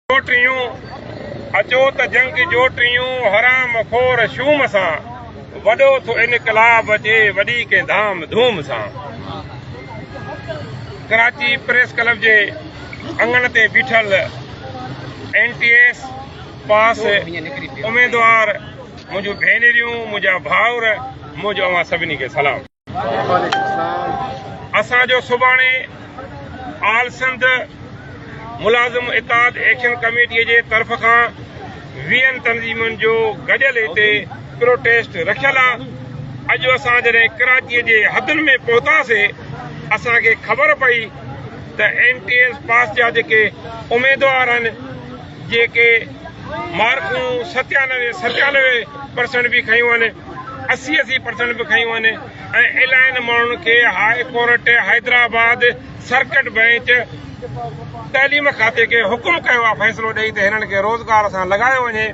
جو ٽيون اچو ته جنگ جو ٽيون حرام خور شوم سان وڏو ٿو انقلاب اچي وڏي ڪنهن ڌام ڌوم سان ڪراچي پريس ڪلب جي اڱڻ تي بيٺل اين ٽي ايس پاس اميدوار منهنجون ڀينريون منهنجا ڀائر منهنجو اوهان سڀني کي سلام اسان جو سڀاڻي آل سنڌ ملازم اتحاد ايڪشن ڪميٽي جي طرف کان ويهن تنظيمن جو گڏيل هتي پروٽيسٽ رکيل آ. اڄ اسان جڏهن ڪراچي جي حدن ۾ پهتاسين اسان کي خبر پئي ته اين ٽي ايس پاس جا جيڪي اميدوار آهن جيڪي مارڪون ستيانوي ستيانوي پرسنٽ به کنيون هن اسي اسي پرسنٽ به کنيون هن ۽ الائن ماڻهن کي high court Hyderabad circuit bench تعليم کاتي کي حڪم ڪيو آهي فيصلو ڏئي ته هنن کي روزگار سان لڳايو وڃي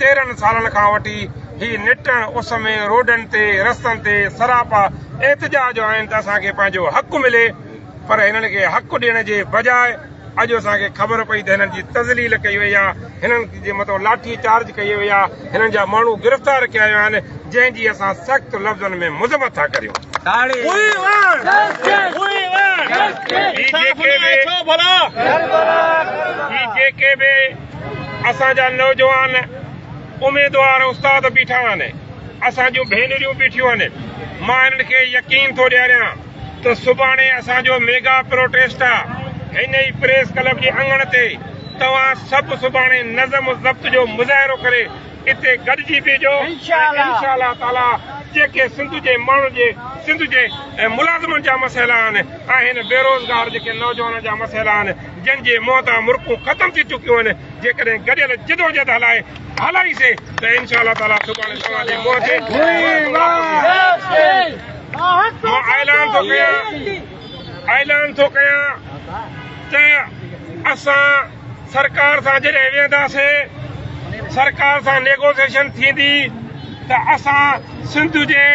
تيرهن سالن کان وٺي هي نٽ اس ۾ روڊن تي رستن تي سراپا احتجاج آهن ته اسان کي پنهنجو حق ملي پر هنن کي حق ڏيڻ جي بجاء اڄ اسان کي خبر پئي ته هنن جي تذليل ڪئي وئي آهي، هنن جي مٿان لاٺي چارج ڪئي وئي آهي، هنن جا ماڻهو گرفتار ڪيا ويا آهن، جنهن جي اسان سخت لفظن ۾ مذمت ٿا ڪريون. هي جيڪي به اسان جا نوجوان اميدوار استاد بيٺا آهن، اسان جون ڀينريون بيٺيون آهن، مان هنن کي يقين ٿو ڏياريان ته سڀاڻي اسان جو ميگا پروٽيسٽ آ هن ئي پريس ڪلب جي اڱڻ تي توهان سڀ سڀاڻي نظم و ضبط جو مظاهرو ڪري اتي گڏجي بيهجو ۽ انشاء الله تعالي جيڪي سنڌ جي ماڻهن جي سنڌ جي ملازمن جا مسئلا آهن آهن بيروزگار جيڪي نوجوانن جا مسئلا آهن جن جي منهن تان مرڪون ختم ٿي چڪيون آهن جيڪڏهن گڏيل جدوجهد هلائي هلائيسين ته انشاء الله تعالي سڀاڻي توهان جي منهن تي مان اعلان ٿو ڪيان اعلان ٿو ڪيان ته اسان سرڪار سان جڏهن ويهنداسين سرڪار سان نيگوسيشن ٿيندي ته اسان سنڌ جي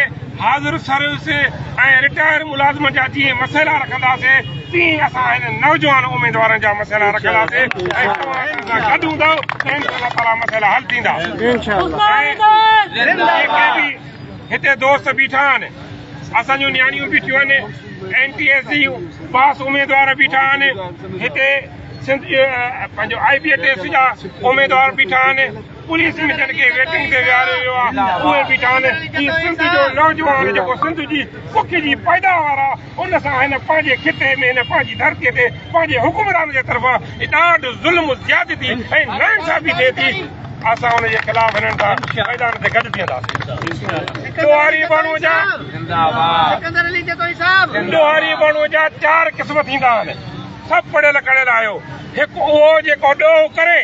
حاضر سروس ۽ رٽائر ملازمن جا جيئن مسئلا رکنداسين تيئن اسان هنن نوجوان اميدوارن جا مسئلا رکنداسين ۽ توهان اسان سان گڏ هوندؤ ته انشاء الله تعاليٰ مسئلا حل ٿيندا. هتي دوست بيٺا آهن اسان جون نياڻيون بيٺيون آهن اين ٽي ايس جي پاس اميدوار بيٺا آهن هتي سنڌ جي پنهنجو آئي بي ٽيسٽ جا اميدوار بيٺا آهن پوليس ۾ جن کي ويٽنگ تي ويهاريو ويو آهي اهي بيٺا آهن هي سنڌ جو نوجوان جيڪو سنڌ جي پک جي پيداوار آهي ان سان هن پنهنجي خطي ۾ هن پنهنجي ڌرتي تي پنهنجي حڪمران جي طرفان ڏاڍ، ظلم، زيادتي ۽ ناانصافي ٿئي ٿي، اسان ان جي خلاف هنن سان ميدان تي گڏ بيهنداسين. ڏوهاري بڻو جا ڏوهاري بڻو جا چار قسم ٿيندا آهن. سڀ پڙهيل ڪڙهيل آهيو. هڪ اهو جيڪو ڏوهه ڪري،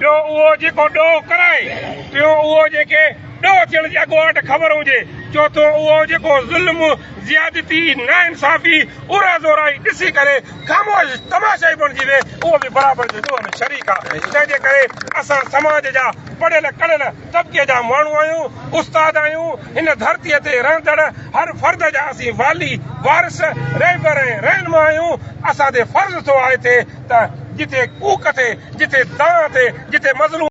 ٻيو اهو جيڪو ڏوهه ڪرائي، ٽيون اهو جنهن کي ڏوهه ٿيڻ جي اڳواٽ خبر هجي، چوٿون اهو جيڪو ظلم، زيادتي، ناانصافي، اورا زورائي ڏسي ڪري خاموش تماشائي بڻجي ويهي، اهو به برابر جي ڏوهه ۾ شريڪ آ. تنهن جي ڪري اسان سماج جا پڙهيل ڪڙهيل طبقي جا ماڻهو آهيون، استاد آهيون، هن ڌرتيء تي رهندڙ هر فرد جا اسين والي، وارث، رهبر ۽ رهنما آهيون. اسان تي فرض ٿو آهي ٿي ته جتي ڪوڪ ٿي، جتي دانهن ٿي، جتي مظلوم.